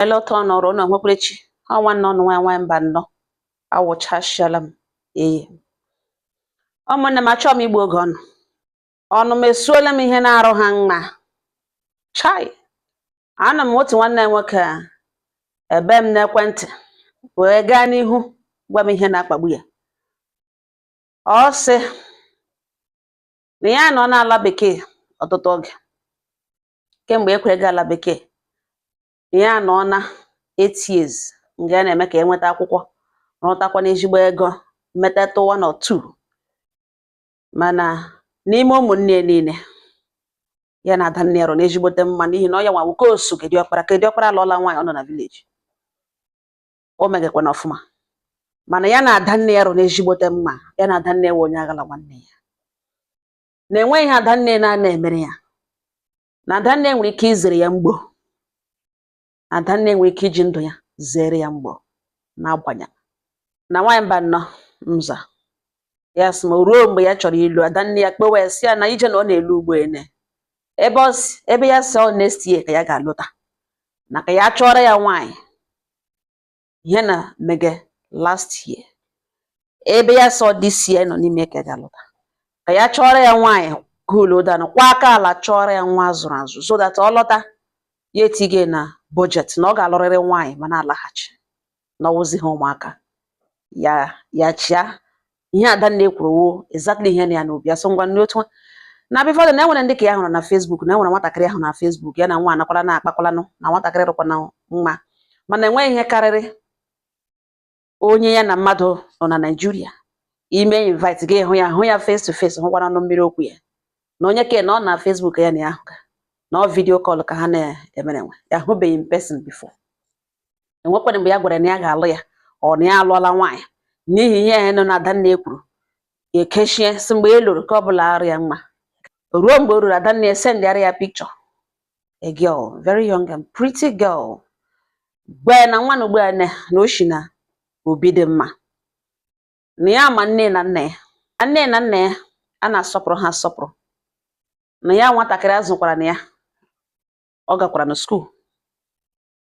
ele otu ụnụ rụ na onwekwere chi ha nwanne ụnụ nwa nwaanyị Mbano awụchasịala m eye ụmụnne m achọọ m igbu oge ụnụ ọnụ m esuola m ihe na-arụ ha mma chai anọ m otu nwanne nwoke a ebe m n'ekwentị wee gaa n'ihu gwa m ihe na-akpagbu ya ọ sị na ya nọ n'ala bekee ọtụtụ oge kemgbe ekwere gaa ala bekee ya anọọna eight years nga a na-eme ka e nweta akwụkwọ rụtakwa n'ezigbo ego metatụ one or two mana n'ime ụmụnne ya niile ya na ada nne ya rụ n'ezigbote mma n'ihi na ọ ya nwa wụ ke o so ke di ọkpara ke di ọkpara alụọla nwaanyị ọ nọ na village o megekwana ọfụma mana ya na ada nne ya rụ n'ezigbote mma ya na ada nne ya wụ onye aghala nwanne ya na enweghị ihe adanne na-ana emere ya na adanne nwere ike izere ya mgbo adanne nwere ike iji ndụ ya zere ya mgbo n'agbanya na nwaanyị Mbano m zaa ya sị m o ruo mgbe ya chọrọ ịlụ adanne ya kpewe si ya na ije na ọ na-elu ugbo ene ebe ebe ya sị ọ next year ka ya ga-alọta na ka ya chọọrọ ya nwaanyị ihe na mege last year ebe ya sị ọ this year nọ n'ime ka ya ga-alọta ka ya chọọrọ ya nwaanyị kulodanụ kwa aka ala chọọrọ ya nwa a zụrụ azụ so that ọ lọta ya etige na budget na ọ ga-alụrịrị nwaanyị ma na-alaghachi na ọ wụzi ha ụmụaka ya ya chia ihe adanne kwuru wụ exactly ihe nọ ya n'obi asụ ngwa nri otu na before na enwere ndị ka ya hụrụ na Facebook na enwere nwatakịrị ahụ na Facebook ya na nwa anakwala na-akpakwalanụ na nwatakịrị rụkwana mma mana enweghị ihe karịrị onye ya na mmadụ nọ na Naịjirịa ime invite gaa hụ ya hụ ya face to face hụkwara ọnụ mmiri okwu ya na onye ke na ọ na Facebook ya na ya ahụ ka na ọ video call ka ha na-emerenwe ya hụbeghị in person before enwekwara mgbe ya gwara na ya ga-alụ ya ọ na ya alụọla nwaanyị n'ihi ihe ya nọ na adanne kwuru ya ekechie si mgbe e lụrụ ka ọ bụla arụ ya mma ruo mgbe o ruru adanne esendịara ya picture a girl very young and pretty girl gwa ya na nwa na ugbu a na o si na obi dị mma na ya ma nne na nna ya nne na nna ya a na-asọpụrụ ha asọpụrụ na ya nwatakịrị azụkwara na ya ọ gakwara na school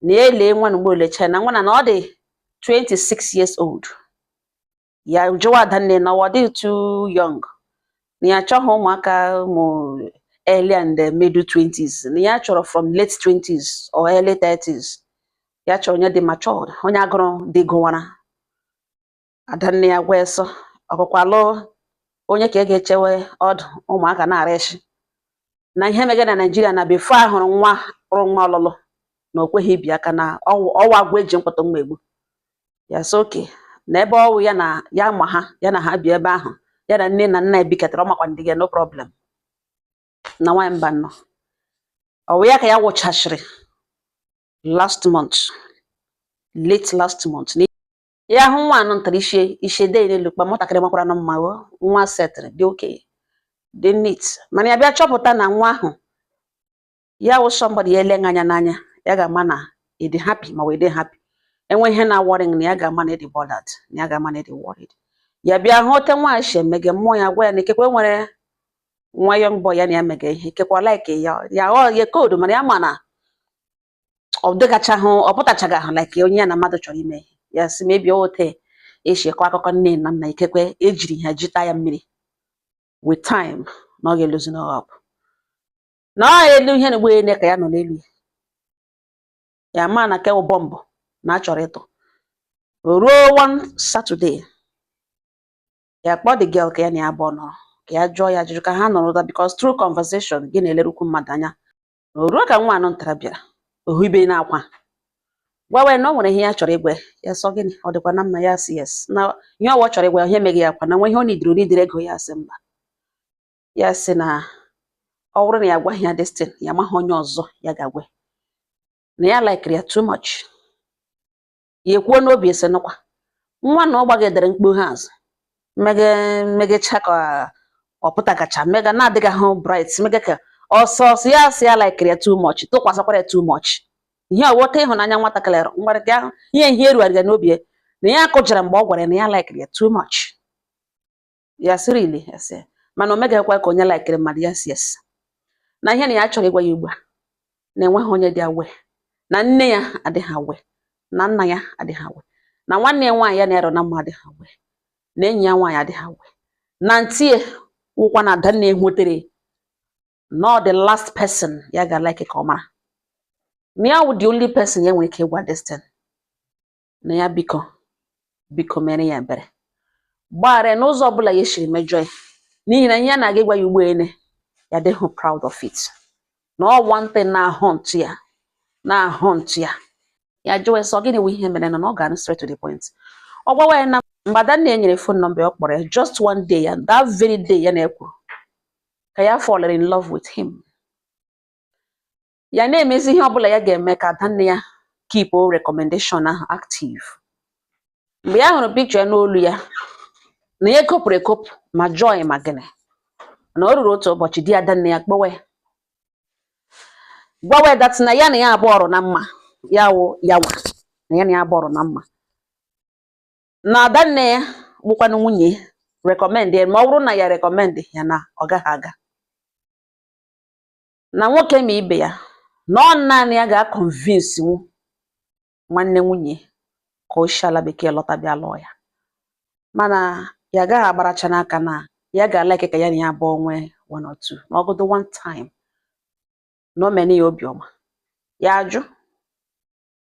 na ya lee nwa na mgbe o lecha na nwa na ọ dị 26 years old ya jụwa adanne na ọ dị too young na ya achọghị ụmụaka ụmụ early and eh, middle 20s na ya chọrọ from late 20s or early 30s ya chọrọ onye dị matured onye agụrụ di gụwara adanne ya gwa eso ọkụkwalụ onye ka e ga-echewe ọdụ ụmụaka na-ara echi na ihe mege na Naịjiria na before a hụrụ nwa rụ nwa ọlụlụ na o kweghị ibi aka na ọ wụ agwọ eji mkpọtụ mma egbu ya sị okay na ebe ọ wụ ya na ya ma ha ya na ha bi ebe ahụ ya na nne na nna ebikatara ọ makwa ndị gị no problem na nwaanyị Mbanọ ọ wụ ya ka ya wụchachiri last month late last month ya hụ nwa anụ ntara ishe ishe dee n'elu kpa nwatakịrị makwara na mma o nwa setịrị dị okenye dị neat mana ya bịa chọpụta na nwa ahụ ya wụ somebody ya ele gị anya n'anya ya ga-ama na ị dị happy ma wee dị happy enwe ihe na-aworry gị na ya ga-ama na ị dị bothered na ya ga-ama na ị dị worried ya bịa hụ ote nwa shi emege mmụọ ya gwa ya na ikekwe enwere nwa young boy ya na ya mega ihe ikekwe ọ like ya ya ghọọ ya koodu mana ya ma na ọ dịgachahụ ọ pụtachaghị ahụ like onye ya na mmadụ chọrọ ime ihe ya sị maybe ote esi akọ akụkọ nne na nna ikekwe ejiri ha jita ya mmiri with time na ọ ga-eloosen up na ọ elu ihe na ụgbọelu ka ya nọ n'elu ya ma na kewu bọmbụ na achọrọ ịtụ ruo one Saturday ya kpọọ the girl ka ya na ya abụọ nọrọ ka ya jụọ ya ajụjụ ka ha nọrọ ụda because through conversation gị na-elerukwu mmadụ anya na o ruo ka nwa anụ ntara bịara ohu ibe na-akwa gwawa ya na ọ nwere ihe ya chọrọ ịgwa ya sị ọ gịnị ọ dịkwa na mma ya sị yes na ihe ọ wụ ọ chọrọ ịgwa ya ihe mege ya ka ọ na enwe ihe ọ nidiri ọ nidiri ego ya sị mba ya sị na ọ bụrụ na ya gwaghị ya this thing ya amaghị onye ọzọ ya ga-agwa na ya likiri ya too much ya ekwuo n'obi sị nụkwa nwa na ọ gbagidere mkpughe azụ mege megecha ka ọ pụtagacha mega na-adịghị ahụ bright mega ka ọsọ ọsọ ya sị ya laikiri ya too much tụkwasịkwara ya too much ihe ọwọta ịhụnanya nwatakịrị ahụ ngwara gị ahụ ihe ihe erugharịga n'obi ya na ya kụjara mgbe ọ gwara ya na ya laikiri ya too much ya sị really ya sị mana o megakwa ka onye laikiri mmadụ ya sị yes na ihe na ya chọrọ ịgwa ya ugbu a na enweghị onye dị aware na nne ya adịghị aware na nna ya adịghị aware na nwanne ya nwaanyị ya na-ero na mma adịghị aware na enyi ya nwaanyị adịghị aware na auntie wụkwa na Adanne wetara na ọ the last person ya ga like ka ọ mara na ya wụ the only person ya nwere ike ịgwa this thing na ya biko biko mere ya ebere gbaghara ya n'ụzọ ọbụla ya shiri mejọ ya n'ihi na ihe ya na-aga ịgwa ya ugbu a na ya adịghị proud of it na ọ one thing na-ahaunt ya na-ahaunt ya ya jụọ ya sị ọ gịnị wụ ihe mere na ọ gaanụ straight to the point ọ gwawa ya na mgbe Adanne nyere phone number ya ọ kpọrọ ya just one day and that very day ya na ya kwuru ka ya fall in love with him ya na-emezi ihe ọbụla ya ga-eme ka adanne ya keep recommendation ahụ active mgbe ya hụrụ picture ya n'olu ya na ya ekopụrụ ekopụ ma joy ma gịnị na o ruru otu ụbọchị di adanne ya kpọwa ya gwawa ya that na ya na ya abụọ ọrụ na mma ya wụ ya nwa na ya na ya abụọ ọrụ na mma na adanne ya bụkwanụ nwunye ya recommend ya ma ọ bụrụ na ya recommend ya na ọ gaghị aga na nwoke ma ibe ya na ọ naanị ya ga-akọnvinsinwu nwanne nwunye ka o si ala bekee lọta bịa lụọ ya mana ya gaghị agbaracha n'aka na ya ga-alike ka ya na ya abụọ nwee one or two ma ọ wụdụ one time na o mene ya obiọma ya ajụ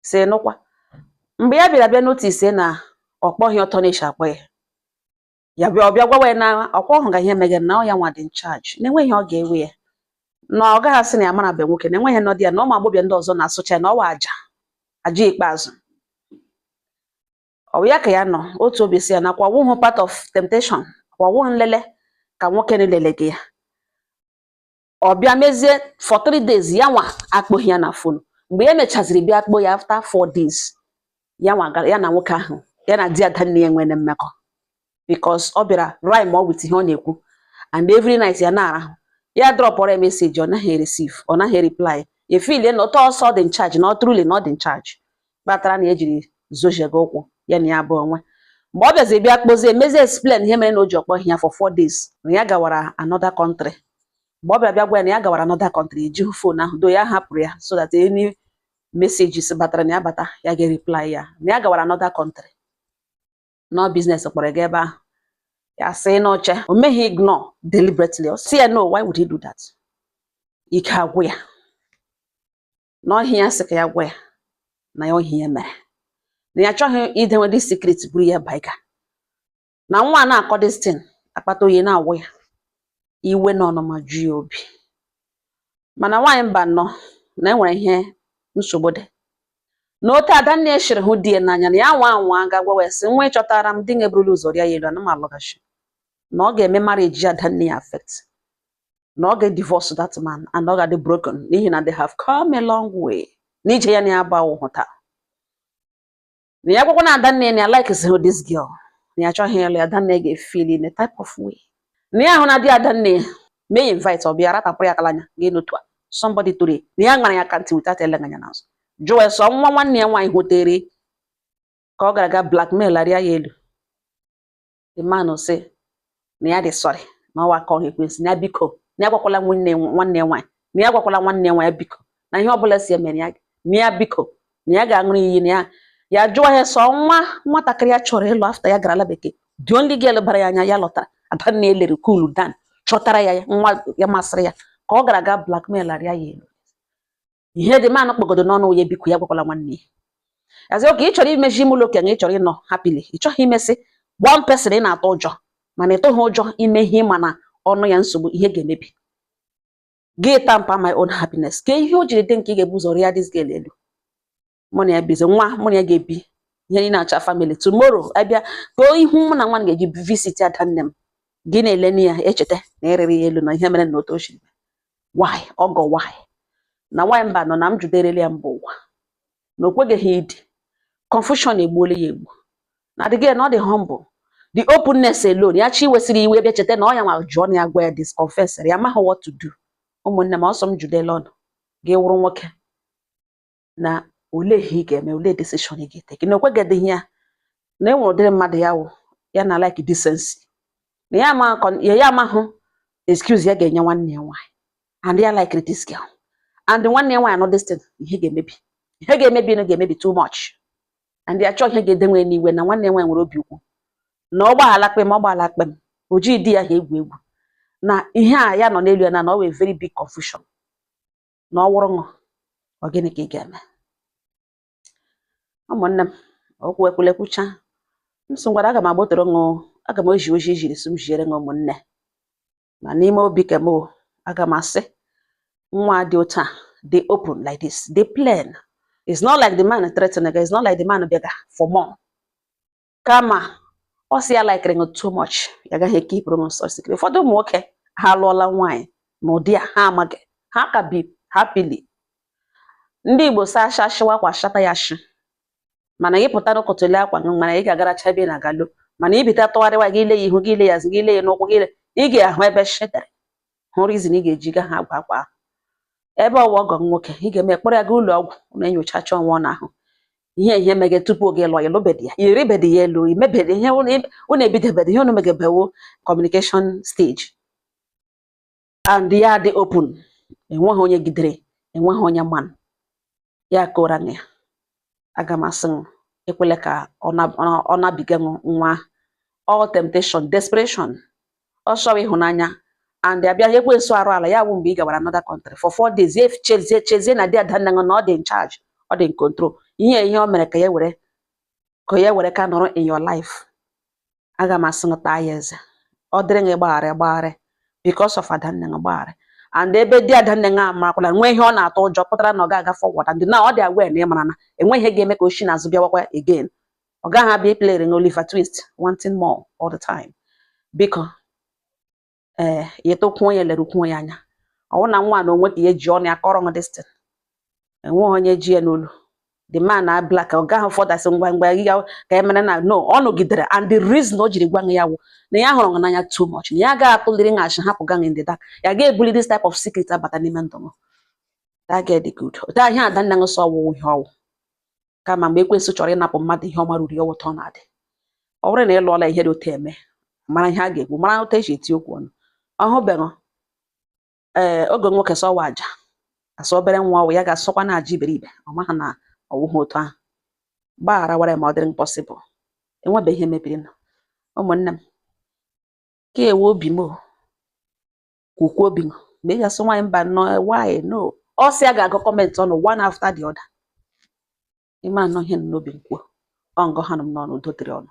sị nụkwa mgbe ya bịara bịa notice na ọ kpọghị otu ọ na-eshi akpọ ya ya bịa ọ bịa gwawa ya na ọ kwa ọ hụga ihe meghe na ọ ya nwa dị in charge na enweghị ọ ga-ewe ya na ọ gaghị asị na ya mara be nwoke na enweghị nọdị ya na ụmụ agbọbịa ndị ọzọ na-asụcha ya na ọwa aja aja ikpeazụ ọ bụ ya ka ya nọ otu obi sị ya na kwa ọ wụhụ part of temptation kwa ọ wụhụ nlele ka nwoke na-elele gị ya ọ bịa mezie for three days ya nwa akpọghị ya na phone mgbe ya mechaziri bịa kpọ ya after four days ya na nwoke ahụ ya na di adanne ya nwere mmekọ because ọ bịara rhyme with ihe ọ na-ekwu and every night ya na-arahụ ya dropụrụ ya message ọ naghị receive ọ naghị reply efeelie na otu ọ sị ọ dị in charge na truly na ọ dị in charge kpatara na ejiri zojiego ụkwụ ya na ya abụọ nwe mgbe ọ bịazi bịa kpọzie mezie explain ihe mere na o ji akpọghị ya for four days na ya gawara another country mgbe ọ bịa bịa gwa ya na ya gawara another country ejighị phone ahụ though ya hapụrụ ya so that any messages batara na ya bata ya ga-reply ya na ya gawara another country na ọ business kpọrọ ga ebe ahụ ya sị na o che o meghị ignore deliberately ọ sị ya no why would he do that ike agwụ ya na ọ ihe a ya sị ka ya gwa ya na ya ọ ihe a ya mere na ya achọghị idewe ụdị secret buru ya baika na nwa a na-akọ this thing akpata oyi na-awụ ya iwe na ọnụma ju ya obi mana nwaanyị mba nọ na e nwere ihe nsogbu dị na otu adanne shiri hụ di ya n'anya na ya nwa anwaa ga gwa ya sị nwa ị chọtara m di gị eburula ụzọ rịa ya elu ana m alọghachi na ọ ga-eme marriage adanne ya affect na ọ ga-divorce that man and ọ ga-adị broken n'ihi na they have come a long way n'ije ya na ya bịa hụta na ya gwakwa na adanne ya na ya likehụ this girl na ya chọghị ịlụ ya adanne ga-efeel in a type of way na ya ahụ na di adanne ya mee ya invite ọ bịa ratapụrụ ya kalanya gị n'otu a somebody tụrụ na ya gbara ya aka ntị without ilega anya n'azụ jụọ sọ nwa nwanne ya nwaanyị hụtere ka ọ gara ga blackmail arịa ya elu the man sị na ya dị sorry na ọ wụ aka ọrụ ekwensu na ya biko na ya gwakwala nwanne nwanne ya nwaanyị na ya gwakwala nwanne ya nwaanyị biko na ihe ọbụla si emere ya na ya biko na ya ga-aṅụrụ iyi na ya ya jụọ ya sọ nwa nwatakịrị ya chọrọ ịlụ after ya gara ala bekee the only girl bara ya anya ya lọtara adanna elere cool down chọtara ya nwa ya masịrị ya ka ọ gara aga blackmail arịa ya elu ihe the man kpọgodo n'ọnụ ya biko ya gwakwala nwanne ya as in okay ị chọrọ imezi ime ụlọ okenye ị chọrọ ịnọ happily ị chọghị imesị one person ị na-atụ ụjọ mana ị tụghị ụjọ ime ihe ị ma na ọnụ ya nsogbu ihe ga-emebi gị tamper my own happiness ka ihe o jiri dị nke ị ga-ebu ụzọ rịa this girl elu mụ na ya bizi nwa mụ na ya ga-ebi ihe niile acha family tomorrow abịa too ihu mụ na nwa ga-eji visit adanne m gị na-ele ya echeta na ị rịrị ya elu na ihe mere na otu ochiri why ọgọ why na why mba nọ na m juderele ya mba ụwa na o kweghị idi confusion egbuola ya egbu na adịghị na ọ dị humble the openness alone ya chi wesịrị iwe bịa cheta na ọ ya nwa jụọ na ya gwa ya this confession ya amaghị what to do ụmụnne m ọsọ m judela ọnụ gị wụrụ nwoke na olee ihe ị ga-eme olee decision ị ga-etake na o kweghịdịghị ya na enwere ụdịrị mmadụ ya wụ ya na like decency na ya ama ya ya amahụ excuse ya ga-enye nwanne ya nwaanyị and ya like this girl and nwanne ya nwaanyị anụ this thing ihe ga-emebi ihe ga-emebi na ga-emebi too much and ya chọọ ihe ga-edenwe n'iwe na nwanne ya nwaanyị nwere obi ukwu na ọ gbaghala kpem ọ gbaghala kpem o jighị di ya ha egwu egwu na ihe a ya nọ n'elu ya na na ọ wụ a very big confusion na ọ wụrụ ṅụ ọ gịnị ka ị ga-eme ụmụnne m okwu ekwule kwucha m sị ngwara aga m agbotoro ṅụ aga m ezi ozi e ziri sị m ziere ṅụ ụmụnne ma n'ime obi ke m o aga m asị nwa dị otu a dị open like this dị plain it's not like the man threatening again it's not like the man bịaga for more kama ọ sị ya likere ṅụ too much ya gaghị ekeepuru ṅụ such secret ụfọdụ ụmụ nwoke ha alụọla nwaanyị na ụdị a ha amaghị ha ka bi happily ndị igbo sị a chọshiwa akwa a chọta ya shị mana gị pụta n'ụkọtụli akwa gị mana ị ga-agaracha ebe ị na-aga lọ mana ibita tụgharịwa gị ile ya ihu gị ile ya azụ gị ile ya n'ụkwụ gị ile ị ga-ahụ ebe shị dere hụ reason ị ga-eji ga ha agwa akwa ahụ ebe ọ wụ ọgọ m nwoke ị ga-eme kpọrọ ya gaa ụlọ ọgwụ na enyochacha nwa ọ na-ahụ ihe ihe mege tupu oge lụọ ya lụbedi ya ị rịbedi ya elu i mebedi ihe unu- unu ebidobedi ihe unu megebe wụ communication stage and ya dị open enweghị onye gidere enweghị onye man ya kora na ya aga m asị ṅụ ekwele ka ọ na- ọ- ọ nabiga ṅụ nwa all temptation desperation ọ chọrọ ịhụnanya and abịa ya ekwensu arụ ala ya wụ mgbe ị gawara another country for four days ya chezie chezie na di adanna ṅụ na ọ dị in charge ọ dị in control ihe ihe o mere ka ya were ka ya were ka nọrọ in your life aga m asị gị taa ya eze ọ dịrị gị gbagharị gbagharị because of adanne gị gbagharị and ebe di adanne gị amarakwala nweghị ihe ọ na-atụ ụjọ pụtara na ọ ga-aga forward and na ọ dị aware na ị mara na enweghị ihe ga-eme ka o shi n'azụ bịawakwa again ọ gaghị abịa iplere gị Oliver Twist wanting more all the time biko ee eh, ya etokwuo ya lerukwuo ya anya ọwụ na nwa na onwe ka ya ji ọnụ ya kọrọ this thing enweghị onye ji ya n'olu the man na black ọ gaghị fọdasị ngwa ngwa ya ka e mere na no ọ nọgidere and the reason o jiri gwa ya wụ na ya hụrụ n'anya too much na ya agaghị atụliri nhachi hapụ gị in the dark ya ga-ebuli this type of secret abata n'ime ndụ m that girl dị good otu ahịa adanne ṅụ sọ ọwụwụ ihe ọwụ kama mgbe ekwensụ chọrọ ịnapụ mmadụ ihe ọma ruru ya ọwụ otu a ọ na-adị ọ bụrụ na ị lụọla ihe dị otu eme mara ihe a ga-ekwu mara otu esi eti okwu unu ahụbeghị ee eh, oge nwoke sọwa aja asọ obere nwa ọwụ ya ga-asọkwa na aja iberibe ọ maghị na ọwụghị otu ahụ gbaghara wara ma ọ dịrị possible enwebe ihe mebirinụ ụmụnne m nke a wụ obi m kwukwuo obi ṅụ ma ị ga-asị nwaanyị mbanụ why no ọ sị a ga-agụ comment unu one after the other ị ma na ihe nọ n'obi m kwuo ọ ngọ ha nọ m n'ọnụ udo dịrị unu